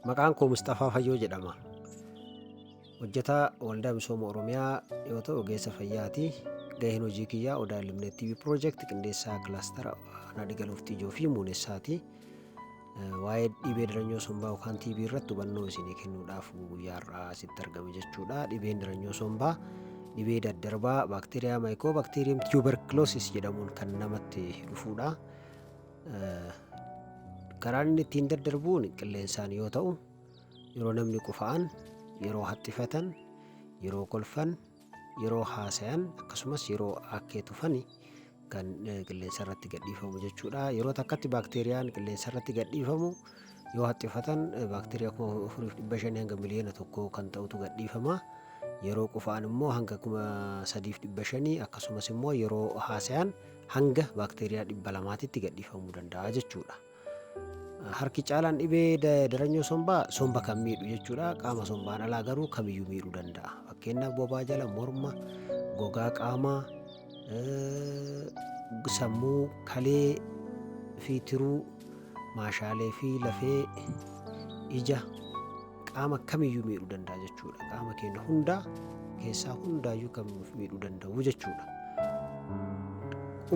Maqaan koo Musxafaa Fayyoo jedhama. Hojjetaa Waldaa Misooma Oromiyaa yoo ta'u ogeessa fayyaati. Gaheen hojii kiyyaa Odaa Limnet TV Project qindeessaa kilaastara Nadhi Galuuftii Ijoo fi Muunessaati. Eh, Waa'ee dhibee diranyoo sombaa yookaan TB irratti hubannoo isinii kennuudhaaf guyyaa har'aa asitti argame jechuudha. Dhibeen diranyoo sombaa dhibee daddarbaa baakteeriyaa maayikoo baakteeriyeem tuberculosis jedhamuun kan namatti dhufudha. Karaan inni ittiin daddarbuun qilleensaan yoo ta'u yeroo namni qufa'an yeroo haxxifatan yeroo kolfan yeroo haasayan akkasumas yeroo akkee tufan kan qilleensa irratti gadhiifamu jechuudha yeroo takkatti baakteeriyaan qilleensa irratti gadhiifamu yoo haxxifatan baakteeriyaa kuma afuriif dhibba shanii hanga miliyoona tokko kan ta'utu gadhiifama yeroo qufa'an immoo hanga kuma sadiif dhibba shanii akkasumas immoo yeroo haasayan hanga baakteeriyaa dhibba lamaatitti gadhiifamuu danda'a jechuudha. Harki caalaan dhibee daranyoo sombaa somba kan miidhu jechuudha. Qaama sombaan alaa garuu kamiyyuu miidhuu danda'a. Fakkeenyaaf bobaa jala morma, gogaa qaamaa, sammuu, kalee fi tiruu, maashaalee fi lafee, ija. qaama kamiyyuu miidhuu danda'a jechuudha. Qaama keenya hundaa keessaa hundaayyuu kan nuuf miidhuu danda'u jechuudha.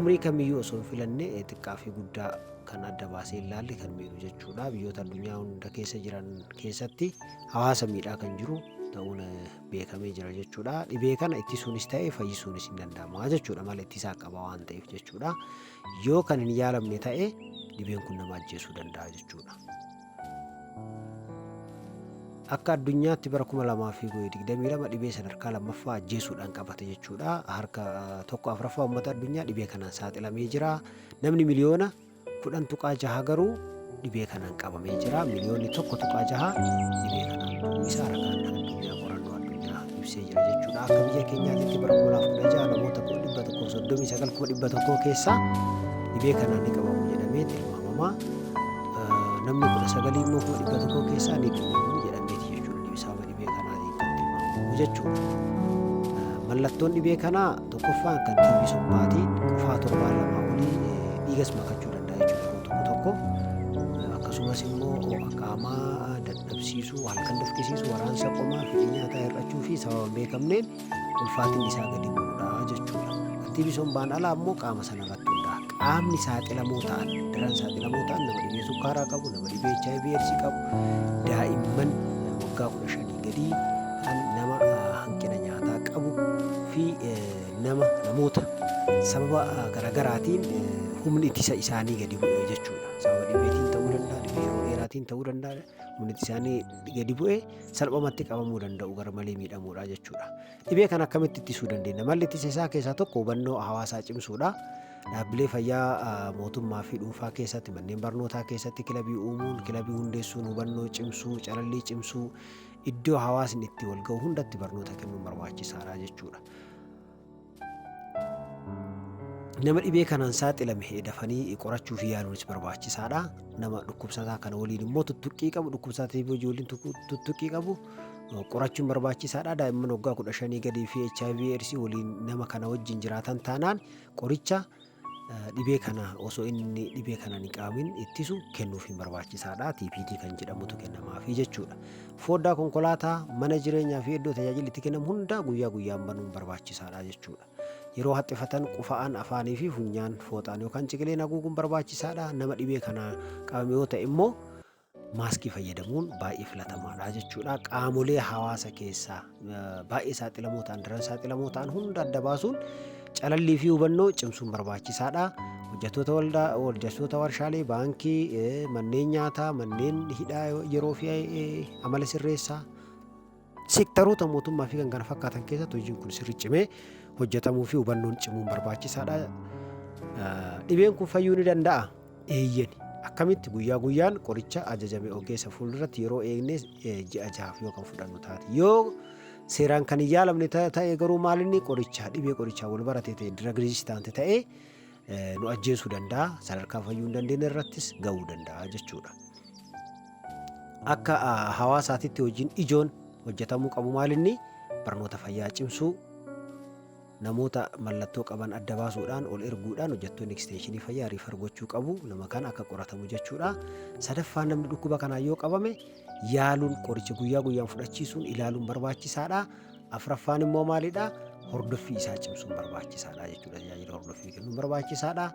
Umrii kamiyyuu osoo hin filanne eh, xiqqaa fi guddaa kan adda baasee ilaalle kan miidhu jechuudha. Biyyoota addunyaa hunda keessa jiran keessatti hawaasa miidhaa kan jiru ta'uun eh, beekamee jira jechuudha. Dhibee kana ittisuunis ta'e fayyisuunis hin danda'ama jechuudha. Mala ittisaa qaba waan ta'eef jechuudha. Yoo kan hin yaalamne ta'e dhibeen kun nama ajjeesuu danda'a jechuudha. Akka addunyaatti bara 2022 dhibee sadarkaa lammaffaa ajjeesuudhaan qabate jechuudha. Harka tokko afraffaa uummata addunyaa dhibee kanaan saaxilamee jira. Namni miliyoona kudhan tuqaa jaha garuu dhibee kanaan qabamee jira. Miliyoonni tokko tuqaa jaha dhibee kanaan du'uu isaa ragaan addunyaa qorannoo addunyaa ibsee jira jechuudha. Akka biyya keenyaatti bara 2016 namoota 139,100 keessaa dhibee kanaan ni qabamu jedhamee tilmaamama. Namni 19 immoo 100 keessaa ni qabamu jedhameeti jechuudha. Dhibisaaba dhibee kanaa kan tilmaamamu jechuudha. Mallattoon dhibee kanaa tokkoffaan kan tiibii summaati. Qufaa torbaa lamaa olii dhiigas makachuu danda'a jechuudha yeroo tokko tokko. Akkasumas immoo qaamaa dadhabsiisu, waan kan dafqisiisu, waraansa qomaa, fedhii nyaataa hir'achuu fi sababa hin beekamneen ulfaatinni isaa gadi bu'uudha jechuudha. Tartiibi sombaan alaa immoo qaama sana irratti hundaa'a. Qaamni saaxilamoo ta'an, daran saaxilamoo ta'an nama dhibee sukkaaraa qabu, nama dhibee HIV eedsii qabu, daa'imman eh, waggaa kudha shanii gadii kan nama ah, hanqina nyaataa qabu fi eh, nama namoota sababa ah, garaagaraatiin eh, humni ittisa isaanii gadi bu'e jechuudha. Sababa dhibeetiin ta'uu danda'a, dhibee yeroo dheeraatiin ta'uu danda'a. Humni isaanii gadi bu'ee salphumatti qabamuu danda'u gara malee miidhamuudha jechuudha. Dhibee kana akkamitti ittisuu dandeenya? Malli ittisa isaa keessaa tokko hubannoo hawaasaa cimsuudha. Dhaabbilee fayyaa mootummaa fi dhuunfaa keessatti manneen barnootaa keessatti kilabii uumuun, kilabii hundeessuun hubannoo cimsuu, calallii cimsuu iddoo hawaasni itti wal ga'u hundatti barnoota kennuun barbaachisaadha jechuudha. Nama dhibee kanaan saaxilame dafanii qorachuuf yaaluunis barbaachisaadha. Nama dhukkubsataa kana waliin immoo tuttuqqii qabu dhukkubsataa tiiboo ijoolleen tuttuqqii qabu qorachuun barbaachisaadha. Daa'imman waggaa kudha shanii gadii fi HIV eedsii waliin nama kana wajjin jiraatan taanaan qoricha dhibee kana osoo inni dhibee kana hin qaamin ittisu kennuuf hin barbaachisaadha. TPD kan jedhamutu kennamaafi jechuudha. Foddaa konkolaataa, mana jireenyaa fi iddoo tajaajilli itti kennamu hundaa guyyaa guyyaan banuun barbaachisaadha jechuudha. Yeroo haxxifatan qufa'aan afaanii fi funyaan fooxaan yookaan ciqileen haguuguun barbaachisaadha. Nama dhibee kana qabame yoo ta'e immoo maaskii fayyadamuun baay'ee filatamaadha jechuudha. Qaamolee hawaasa keessaa baay'ee saaxilamoo ta'an, daran saaxilamoo ta'an hunda adda baasuun calallii fi hubannoo cimsuun barbaachisaadha. Hojjettoota waldaa, hojjettoota warshaalee, baankii, manneen nyaataa, manneen hidhaa yeroo fi amala sirreessaa Sektaroota mootummaa fi kan kana fakkaatan keessatti hojiin kun sirri cimee hojjetamuu fi hubannoon cimuun barbaachisaadha. Dhibeen kun fayyuu ni danda'a? Eeyyeni. Akkamitti guyyaa guyyaan qoricha ajajame ogeessa fuulduratti yeroo eegnee ji'a jahaaf yoo kan fudhannu taate. Yoo seeraan kan hin yaalamne ta'e garuu maalinni qoricha dhibee qorichaa wal barate ta'e dirag riizistaante ta'e nu ajjeesuu danda'a sadarkaa fayyuu hin dandeenye irrattis ga'uu danda'a jechuudha. Akka hawaasaatitti hojiin ijoon hojjetamuu qabu maalinni barnoota fayyaa cimsuu namoota mallattoo qaban adda baasuudhaan ol erguudhaan hojjettoonni eksteenshinii fayyaa riifar gochuu qabu nama kana akka qoratamu jechuudha. Sadaffaan namni dhukkuba kanaan yoo qabame yaaluun qoricha guyyaa guyyaan fudhachiisuun ilaaluun barbaachisaadha. Afraffaan immoo maalidha? Hordoffii isaa cimsuun barbaachisaadha jechuudha. Tajaajila hordoffii kennuun barbaachisaadha.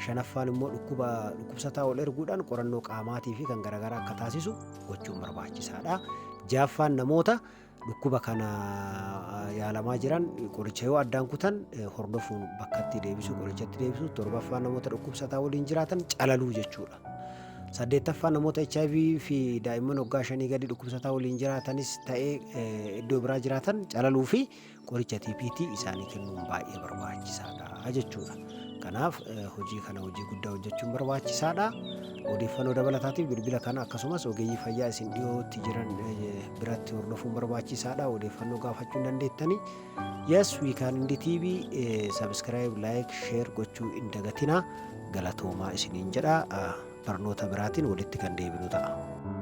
Shanaffaan immoo dhukkuba dhukkubsataa ol erguudhaan qorannoo qaamaatii fi kan garaagaraa akka taasisu gochuun barbaachisaadha. Jaaffaan namoota Dhukkuba kana yaalamaa jiran qoricha yoo addaan kutan hordofuun bakkatti deebisuu qorichatti deebisuu torbaffaa namoota dhukkubsataa waliin jiraatan calaluu jechuudha. Saddeettaffaa namoota HIV fi daa'imman waggaa shanii gadi dhukkubsataa waliin jiraatanis ta'ee iddoo biraa jiraatan calaluu fi qoricha TPT isaanii kennuun baay'ee barbaachisaadha jechuudha. Kanaaf hojii kana hojii guddaa hojjechuun barbaachisaadha. Odeeffannoo dabalataatiif bilbila kana akkasumas ogeeyyii fayyaa isin dhiyootti jiran biratti hordofuun barbaachisaadha odeeffannoo gaafachuu hin dandeettani yes we can indi tv eh, subscribe like share gochuu hin dagatina galatoomaa isiniin jedha ah, barnoota biraatiin walitti kan deebinu ta'a.